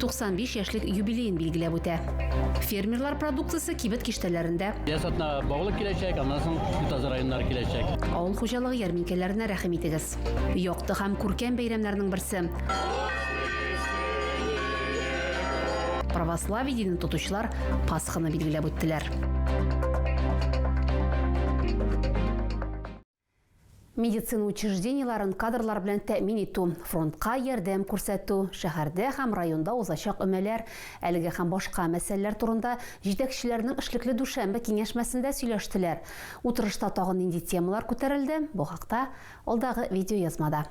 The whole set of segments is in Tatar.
95 яшьлек юбилеен билгеләп үтә. Фермерлар продукциясе кибет киштәләрендә. Ясатна Баулы киләчәк, аннан соң Ютазы районнары киләчәк. Авыл хуҗалыгы ярминкәләренә рәхим итегез. Якты һәм күркәм бәйрәмнәрнең берсе. Православие динен тотучылар Пасханы билгеләп үттеләр. медицина учреждениеләрен кадрлар белән тәэмин итү, фронтка ярдәм күрсәтү, шәһәрдә һәм районда узачак өмәләр, әлеге һәм башка мәсьәләләр турында җитәкчеләрнең эшлекле дүшәмбе киңәшмәсендә сөйләштеләр. Утырышта тагын нинди темалар күтәрелде, бу хакта алдагы видеоязмада.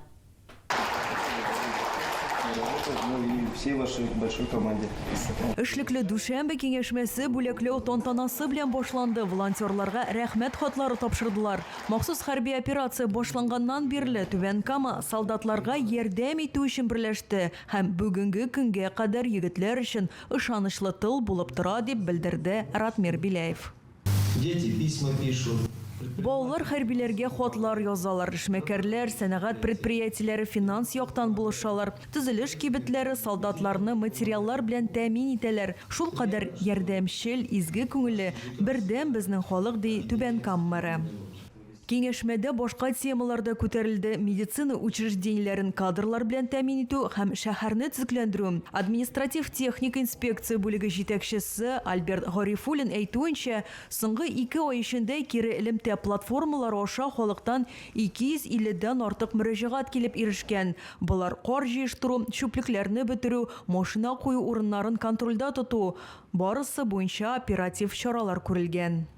Эшлекле дүшәмбе киңәшмәсе бүләкләү тантанасы белән башланды. Волонтерларга рәхмәт хатлары тапшырдылар. Махсус хәрби операция башланганнан бирле Түбән Кама солдатларга ярдәм итү өчен берләште һәм бүгенге көнгә кадәр егетләр өчен ышанычлы тыл булып тора, дип белдерде Ратмир Беляев. Дети письма пишут. Балалар хәрбиләргә хатлар язалар, эшмәкәрләр, сәнәгать предприятиеләре финанс яктан булышалар, төзелеш кибетләре солдатларны материаллар белән тәэмин итәләр, шулкадәр ярдәмчел, изге күңелле, бердәм безнең халык, ди Түбән Кам мэры. Киңәшмәдә башка темалар да күтәрелде, медицина учреждениеләрен кадрлар белән тәэмин итү һәм шәһәрне төзекләндерү. Административ-техник инспекция бүлеге җитәкчесе Альберт Гарифуллин әйтүенчә, соңгы ике ай эчендә кире элемтә платформалары аша халыктан 250 дән артык мөрәҗәгать килеп ирешкән, болар кар җыештыру, чүплекләрне бетерү, машина кую урыннарын контрольдә тоту, барысы буенча оператив чаралар күрелгән.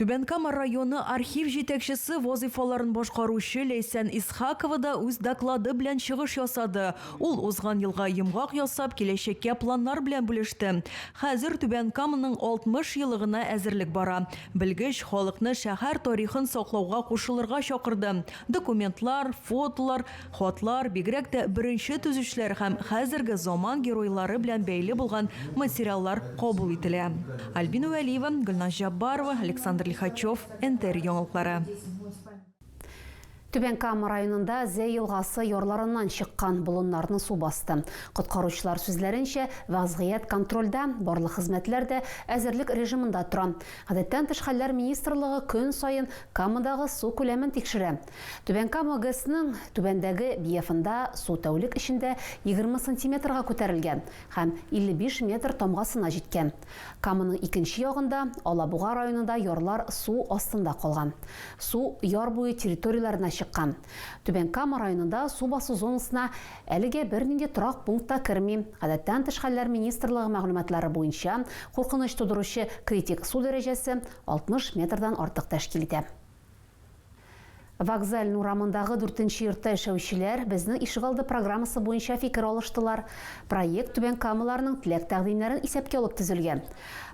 Түбән Кама районы архив җитәкчесе вазыйфаларын башкаручы Ләйсән Исхакова да үз доклады белән чыгыш ясады. Ул узган елга йомгак ясап, киләчәккә планнар белән бүлеште. Хәзер Түбән Каманың 60 елыгына әзерлек бара. Белгеч халыкны шәһәр тарихын саклауга кушылырга чакырды. Документлар, фотолар, Хатлар, бигрәк тә беренче төзүчеләр һәм хәзерге заман геройлары белән бәйле булган материаллар кабул ителә. Альбина Вәлиева, Гөлназ Җаббарова, Александр Лихачев, НТР яңалыклары. Түбән Кама районында Зәй елгасы ярларыннан чыккан болыннарны су басты. Коткаручылар сүзләренчә, вәзгыять контрольдә, барлык хезмәтләр дә әзерлек режимында тора. Гадәттән тыш хәлләр министрлыгы көн саен Камадагы су күләмен тикшерә. Түбән Кама ГЭСның түбәндәге биефында су тәүлек эчендә егерме сантиметрга күтәрелгән һәм 55 метр тамгасына җиткән. Каманың икенче ягында, Алабуга районында ярлар су астында калган. Су яр буе территорияләренә чыккан. Түбән Кама районында су басу зонасына әлегә бернинди торак пункт та керми. Гадәттән тыш хәлләр министрлыгы мәгълүматлары буенча, куркыныч тудыручы критик су дәрәҗәсе 60 метрдан артык тәшкил итә. Вокзаль урамындагы дүртенче йортта яшәүчеләр Безнең ишегалды программасы буенча фикер алыштылар. Проект Түбән Камаларның теләк-тәкъдимнәрен исәпкә алып төзелгән.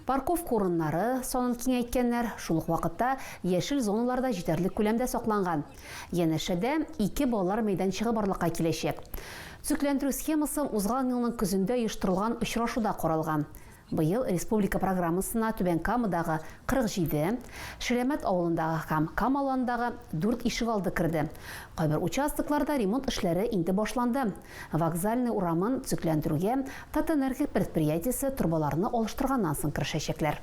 Парковка урыннары санын киңәйткәннәр, шул ук вакытта яшел зоналар да җитәрлек күләмдә сакланган. Янәшәдә ике балалар мәйданчыгы барлыкка киләчәк. Төзекләндерү схемасы узган елның көзендә оештырылган очрашуда каралган. Быел республика программасына Түбән Камадагы 47, Ширәмәт авылындагы һәм Камаландагы дүрт ишегалды керде. Кайбер участокларда ремонт эшләре инде башланды. Вокзальный урамын төзекләндерүгә Татэнерго предприятиесе торбаларны алыштырганнан соң керешәчәкләр.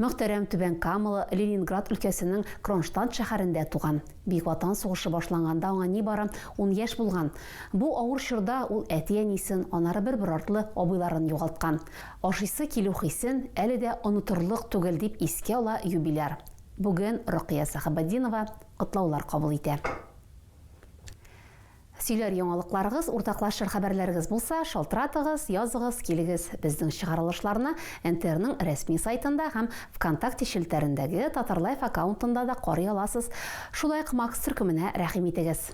Мөхтәрәм Түбән Камалы Ленинград өлкәсенең Кронштадт шәһәрендә туган. Бөек Ватан сугышы башланганда аңа нибары ун яшь булган. Бу авыр чорда ул әти-әнисен, аннары бер-бер артлы абыйларын югалткан. Ашыйсы килү хисен әле дә онытырлык түгел, дип искә ала юбиляр. Бүген Рокыя Сәхәбетдинова котлаулар кабул итә. Сөйләр яңалыкларыгыз, уртаклашыр хәбәрләрегез булса, шалтыратыгыз, языгыз, килегез. Безнең чыгарылышларны НТРның рәсми сайтында һәм Вконтакте челтәрендәге Татарлайф аккаунтында да карый аласыз. Шулай ук Макс төркеменә рәхим итегез.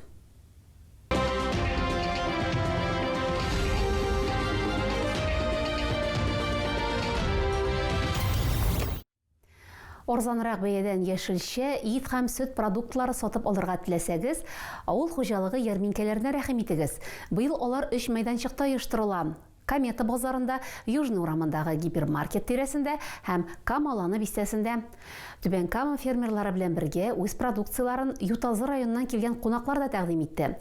Арзанрак бәядән яшелчә, ит һәм сөт продуктлары сатып алырга теләсәгез, авыл хуҗалыгы ярминкәләренә рәхим итегез. Быел алар өч мәйданчыкта оештырыла, Комета базарында, Южный урамындагы гипермаркет тирәсендә һәм Кама-Ланы бистәсендә. Түбән Кама фермерлары белән бергә үз продукцияләрен Ютазы районыннан килгән кунаклар да тәкъдим итте.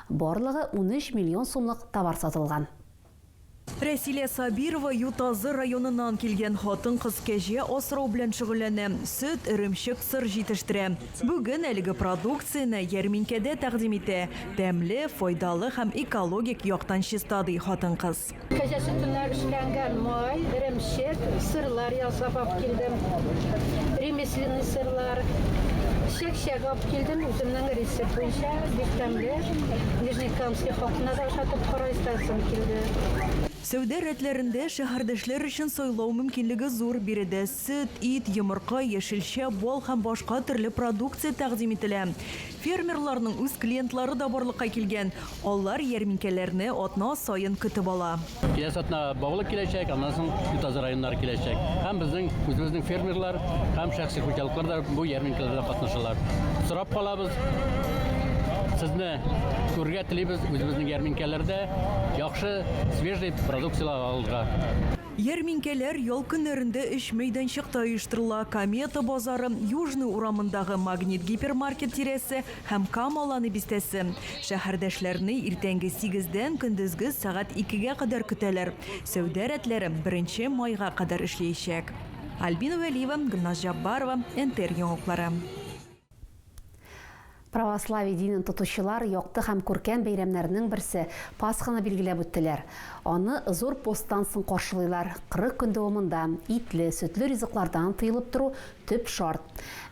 Барлыгы унөч миллион сумлык товар сатылган. Рәсилә Сабирова Ютазы районыннан килгән хатын-кыз кәҗә асрау белән шөгыльләнә, сөт, эремчек, сыр җитештерә. Бүген әлеге продукцияне ярминкәдә тәкъдим итә. Тәмле, файдалы һәм экологик яктан чиста, ди хатын-кыз. Кәҗә сөтеннән эшләнгән май, эремчек, сырлар ясап алып килдем. Ремесленный сырлар, чәк-чәк алып килдем. Үземнең рецепт буенча бик тәмле. Нижнекамский халкына да ашатып карыйс. соң килде. Сәүдә рәтләрендә шәһәрдәшләр өчен сайлау мөмкинлеге зур, биредә сөт, ит, йомырка, яшелчә, бал һәм башка төрле продукция тәкъдим ителә. Фермерларның үз клиентлары да барлыкка килгән, алар ярминкәләрне атна саен көтеп ала. Киләсе атна Баулы киләчәк, аннан соң Ютазы районнары киләчәк. Һәм безнең үзебезнең фермерлар һәм шәхси хуҗалыклар да бу ярминкәләрдә катнашалар. Сорап калабыз Сезне! Күрергә телибез үзебезнең ярминкәләрдә яхшы свежий продукцияләр алырга. Ярминкәләр ял көннәрендә өч мәйданчыкта оештырыла, Комета базары, Южный урамындагы Магнит гипермаркет тирәсе һәм Кама Аланы бистәсе. Шәһәрдәшләрне иртәнге сигездән көндезге сәгать икегә кадәр көтәләр. Сәүдә рәтләре беренче майга кадәр эшлиячәк. Альбина Вәлиева, Гөлназ Җаббарова, НТР яңалыклары. Православие динен тотучылар якты һәм күркәм бәйрәмнәренең берсе, Пасханы билгеләп үттеләр. Аны зур посттан соң каршылыйлар, 40 көн дәвамында итле, сөтле ризыклардан тыелып тору төп шарт.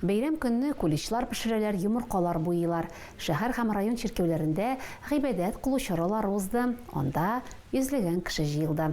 Бәйрәм көнне куличлар пешерәләр, йомыркалар буйыйлар. Шәһәр һәм район чиркәүләрендә гыйбадәт кылу чаралары узды, анда йөзләгән кеше җыелды.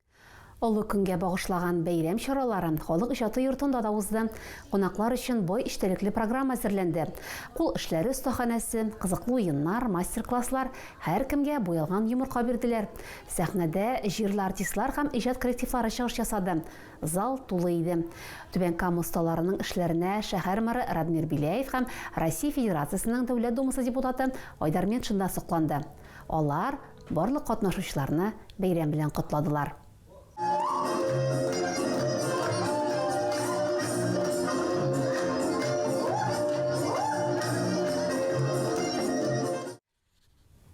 Олы көнгә багышлаган бәйрәм чаралары Халык иҗаты йортында да узды. Кунаклар өчен бай эчтәлекле программа әзерләнде. Кул эшләре остаханәсе, кызыклы уеннар, мастер-класслар, һәркемгә буялган йомырка бирделәр. Сәхнәдә җирле артистлар һәм иҗат коллективлары чыгыш ясады. Зал тулы иде. Түбән Кама осталарының эшләренә шәһәр мэры Радмир Беляев һәм Россия Федерациясенең Дәүләт Думасы депутаты Айдар Метшин да сокланды. Алар Барлык катнашучыларны бәйрәм белән котладылар.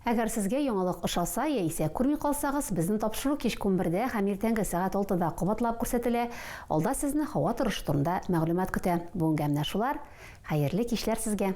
Әгәр сезгә яңалык ошаса яисә күрми калсагыз, безнең тапшыру кичке унбердә һәм иртәнге сәгать алтыда кабатлап күрсәтелә, алда сезне һава торышы турында мәгълүмат көтә. Бүгенгә менә шулар. Хәерле кичләр сезгә!